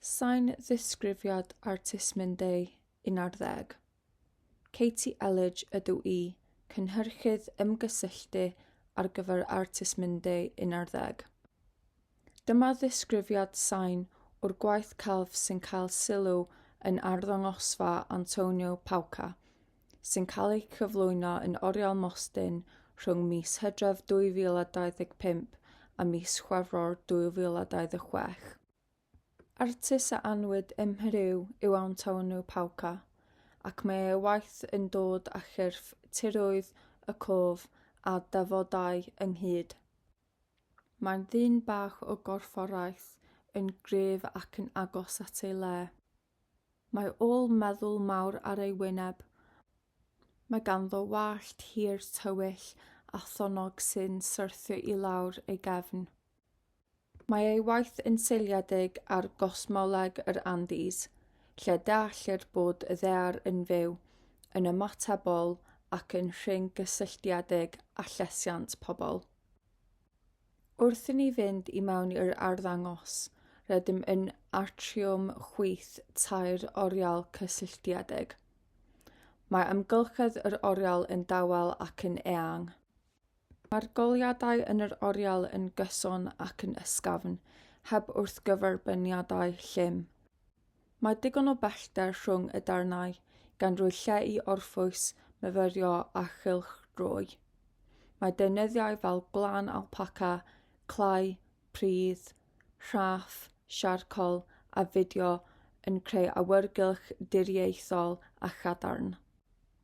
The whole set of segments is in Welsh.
Sain ddisgrifiad artist Mundey, 11. Katie Elledge ydw i, cynhyrchydd ymgysylltu ar gyfer artist Mundey, 11. Dyma ddisgrifiad sain o'r gwaith celf sy'n cael sylw yn arddangosfa Antonio Pauca, sy'n cael eu cyflwyno yn oriel Mostyn rhwng mis Hydref 2025 a mis Chwefror 2026. Artist a anwyd ym Mheriw yw Antonio Pauca, ac mae ei waith yn dod â chyrff tiroedd y cof a dafodau ynghyd. Mae'n ddyn bach o gorfforaeth, yn gryf ac yn agos at ei le. Mae ôl meddwl mawr ar ei wyneb. Mae ganddo wallt hir tywyll a thonnog sy'n syrthio i lawr ei gefn. Mae ei waith yn seiliedig ar gosmoleg yr Andes, lle deallir bod y ddaear yn fyw, yn ymatebol ac yn rhyng gysylltiedig â llesiant pobl. Wrth i ni fynd i mewn i'r arddangos, rydym yn atriwm chwyth tair oriel cysylltiedig. Mae amgylchedd yr oriel yn dawel ac yn eang. Mae'r goleuadau yn yr oriel yn gyson ac yn ysgafn, heb wrthgyferbyniadau llym. Mae digon o bellter rhwng y darnau, gan roi lle i orffwys, myfyrio a chylchdroi. Mae deunyddiau fel gwlân alpaca, clai, pridd, rhaff, siarcol a fideo yn creu awyrgylch diriaethol a chadarn.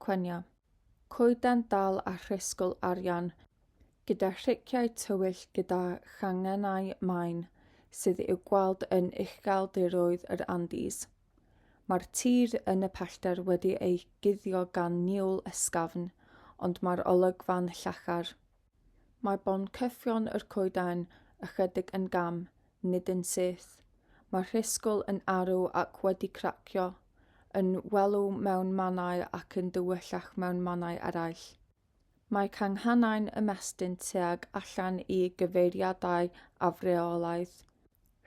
Cwyno, coeden dal a thrysgl arian, gyda thriciau tywyll gyda changennau main sydd i'w gweld yn ucheldiroedd yr Andes. Mae'r tir yn y pellter wedi ei guddio gan niwl ysgafn, ond mae'r olygfa'n llachar. Mae boncyffion yr coeden ychydig yn gam, nid yn syth. Mae rhisgl yn arw ac wedi cracio, yn welw mewn mannau ac yn dywyllach mewn mannau eraill. Mae canghannau'n ymestyn tuag allan i gyfeiriadau afreolaidd,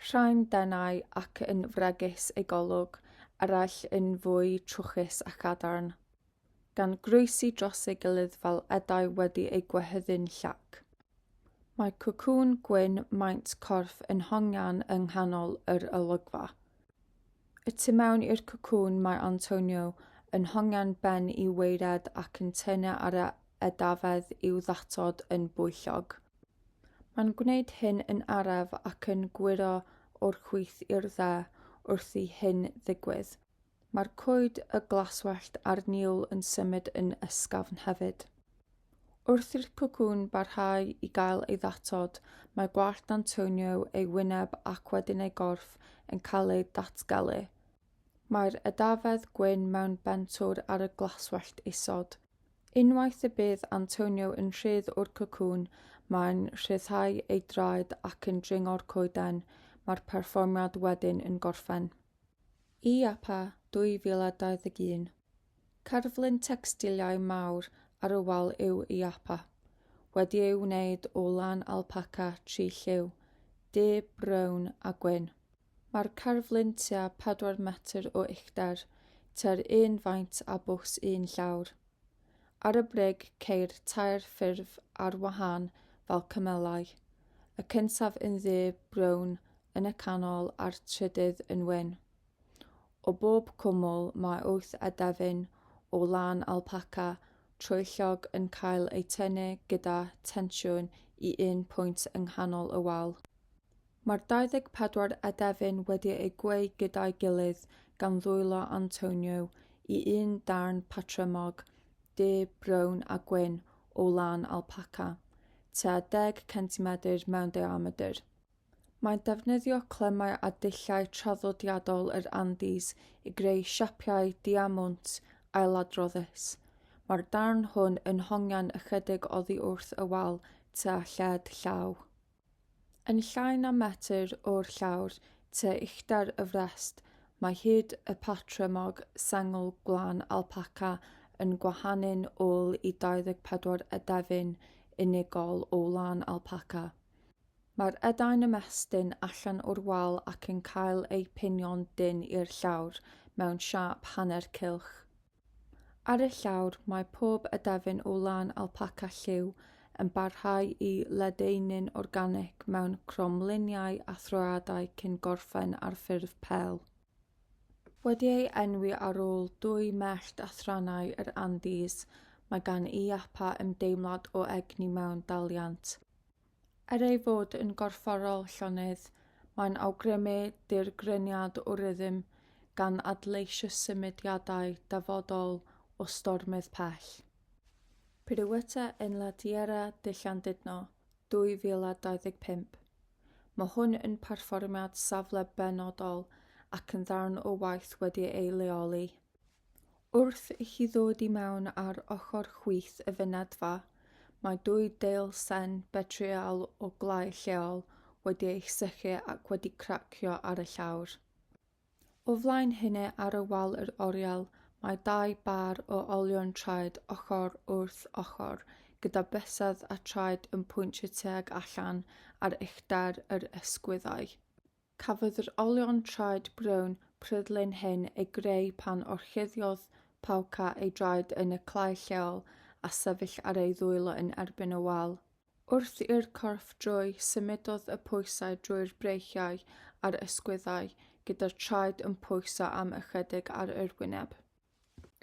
rhai'n denau ac yn fregus ei golwg, eraill yn fwy trwchus a chadarn. gan groesi dros ei gilydd fel edau wedi eu gwehyddu'n llac. Mae cwcwn gwyn maint corff yn hongian yng nghanol yr olygfa. Y tu mewn i'r cwcwn mae Antonio yn hongian ben i weired ac yn tynnu ar y edafedd i'w ddatod yn bwyllog. Mae'n gwneud hyn yn araf ac yn gwyro o'r chwith i'r dde wrth i hyn ddigwydd. Mae'r coed a glaswellt a'r niwl yn symud yn ysgafn hefyd. Wrth i'r cocŵn barhau i gael ei ddatod, mae gwallt Antonio, ei wyneb ac wedyn ei gorff yn cael eu datgelu. Mae'r edafedd gwyn mewn bentwr ar y glaswellt isod. Unwaith y bydd Antonio yn rhydd o'r cocŵn, mae'n rhyddhau ei draed ac yn dringo'r coeden, mae'r perfformiad wedyn yn gorffen. IAPA 2021. Cerflun tecstiliau mawr ar y wal yw IAPA, wedi ei wneud o lan alpaca tri lliw, du, brown a gwyn. Mae'r cerflun tua 4 metr o uchder, tua'r un faint â bws un llawr. Ar y brig ceir tair ffurf ar wahân fel cymelau, y cyntaf yn ddu brown yn y canol a'r trydydd yn wyn. O bob cwmwl mae wyth edefyn o lân alpaca troellog yn cael eu tynnu gyda tensiwn i un pwynt yng nghanol y wal. Mae'r 24 adefyn wedi eu gweu gyda'i gilydd gan ddwylo Antonio i un darn patrymog du brown a gwyn o lan alpaca, tua deg centimedr mewn diamedr. Mae'n defnyddio clemmau a dulliau traddodiadol yr Andes i greu siapiau diamwnt ailadroddus. Mae'r darn hwn yn hongian ychydig oddi wrth y wal tua lled llaw. Yn llai na metr o'r llawr, tua uchder y frest, mae hud y patrymog sengl gwlân alpaca yn gwahanu'n ôl i 24 edefyn unigol o wlân alpaca. Mae'r edau'n ymestyn allan o'r wal ac yn cael eu pinio'n dynn i'r llawr, mewn siâp hanner cylch. Ar y llawr, mae pob edefyn o lan alpaca lliw yn parhau i ledaenu'n organig mewn cromliniau a throeadau cyn gorffen ar ffurf pêl. Wedi ei enwi ar ôl dwy mellt a thrannau yr Andes, mae gan y iapa ymdeimlad o egni mewn daliant. Er ei fod yn gorfforol llonydd, mae'n awgrymu dirgreniad o rythm gan adleisio symudiadau dyfodol o stormydd pell. Piroueta en la Tierra de Llandudno, 2025. Mae hwn yn perfformiad safle benodol ac yn ddarn o waith wedi ei leoli. Wrth i chi ddod i mewn ar ochr chwith y fynedfa, mae dwy deil sen betryal o glai lleol wedi eich sychu ac wedi cracio ar y llawr. O flaen hynny ar y wal yr oriel mae dau bâr o olion traed ochr wrth ochr gyda bysedd a traed yn pwyntio tuag allan ar uchder yr ysgwyddau. Cafodd yr olion traed brown pryglyn hyn eu greu pan orchuddiodd Pauca ei draed yn y clai lleol a sefyll ar ei ddwylo yn erbyn y wal. Wrth i'r corff droi, symudodd y pwysau drwy'r breichiau a'r ysgwyddau, gyda'r traed yn pwyso am ychydig ar yr wyneb.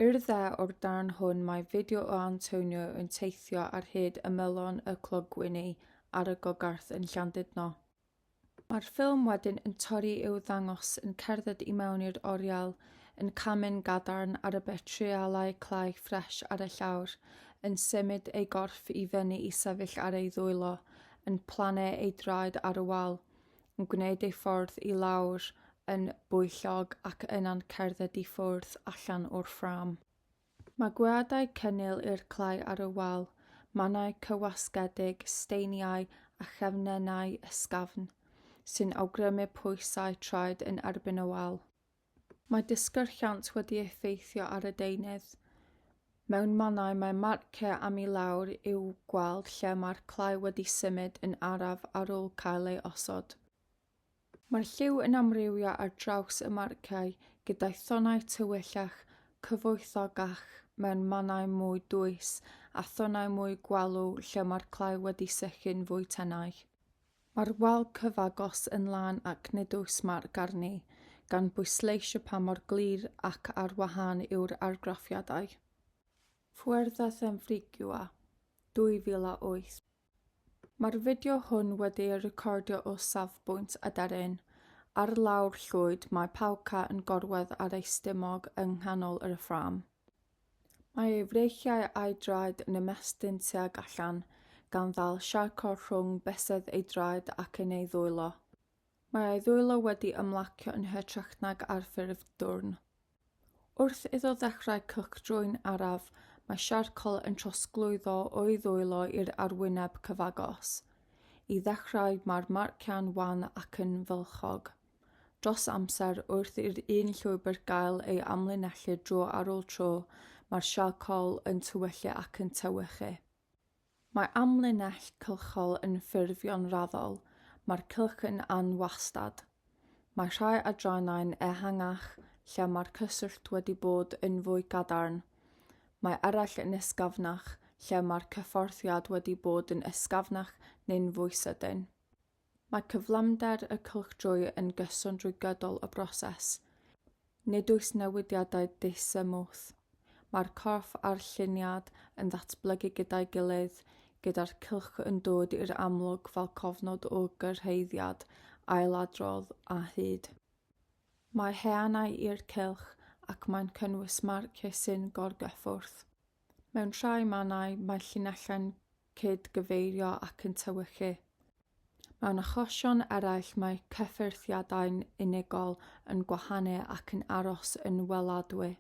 I'r dde o'r darn hwn mae fideo o Antonio yn teithio ar hyd ymylon y clogwyni ar y gogarth yn Llandudno. Mae'r ffilm wedyn yn torri i'w ddangos yn cerdded i mewn i'r oriel, yn camu'n gadarn ar y betreualau clai ffres ar y llawr, yn symud ei gorff i fyny i sefyll ar ei ddwylo, yn plannu ei draed ar y wal, yn gwneud ei ffordd i lawr yn bwyllog ac yna'n cerdded i ffwrdd allan o'r ffrâm. Mae gweadau cynnil i'r clai ar y wal, mannau cywasgedig, steiniau a chefnennau ysgafn, sy'n awgrymu pwysau traed yn erbyn y wal. Mae disgyrchiant wedi effeithio ar y deunydd. Mewn mannau mae marciau am i lawr i'w gweld lle mae'r clai wedi symud yn araf ar ôl cael ei osod. Mae lliw yn amrywio ar draws y marciau, gyda thonnau tywyllach, cyfoethocach mewn mannau mwy dwys a thonnau mwy gwalw lle mae'r clai wedi sychu'n fwy tenau. Mae'r wal cyfagos yn lân ac nid oes marc arni, gan bwysleisio pa mor glir ac ar wahân yw'r argraffiadau. Fuertes en Frigioa, 2008. Mae'r fideo hwn wedi ei recordio o safbwynt aderyn. Ar lawr llwyd mae Palka yn gorwedd ar ei stumog yng nghanol yr ffrâm. Mae ei freichiau a'i draed yn ymestyn tuag allan, gan ddal Sharko rhwng bysedd ei draed ac yn ei ddwylo. Mae ei ddwylo wedi ymlacio yn hytrach nag ar ffurf dwrn. Wrth iddo ddechrau cylchdröyn araf, mae siarcol yn trosglwyddo o'i ddwylo i'r arwyneb cyfagos. I ddechrau, mae'r marciau'n wan ac yn fylchog. Dros amser, wrth i'r un llwybr gael ei amlinellu dro ar ôl tro, mae'r siarcol yn tywyllu ac yn tewychu. Mae amlinell cylchol yn ffurfio'n raddol, mae'r cylch yn anwastad. Mae rhai adrannau'n ehangach, lle mae'r cyswllt wedi bod yn fwy cadarn. Mae eraill yn ysgafnach, lle mae'r cyfforthiad wedi bod yn ysgafnach neu'n fwy sydyn. Mae cyflymder y cylchdröy yn gyson drwy gydol y broses. Nid oes newidiadau disymwth. Mae'r corff a'r lliniad yn ddatblygu gyda'i gilydd, gyda'r cylch yn dod i'r amlwg fel cofnod o gyrhaeddiad, ailadrodd a hyd. Mae heanau i'r cylch ac mae'n cynnwys marciau sy'n gorgyffwrdd. Mewn rhai mannau mae llinellau'n cyd-gyfeirio ac yn tewychu. Mewn achosion eraill mae cyffyrddiadau'n unigol yn gwahanu ac yn aros yn weladwy.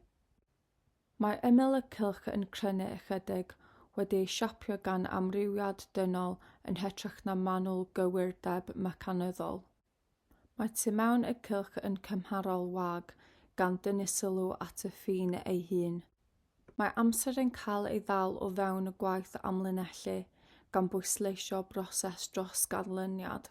Mae ymyl y cylch yn crynu ychydig, wedi ei siapio gan amrywiad dynol yn hytrach na manwl gywirdeb mecanyddol. Mae tu mewn y cylch yn cymharol wag, gan dynnu sylw at y ffin ei hun. Mae amser yn cael ei ddal o fewn y gwaith amlinellu, gan bwysleisio broses dros ganlyniad.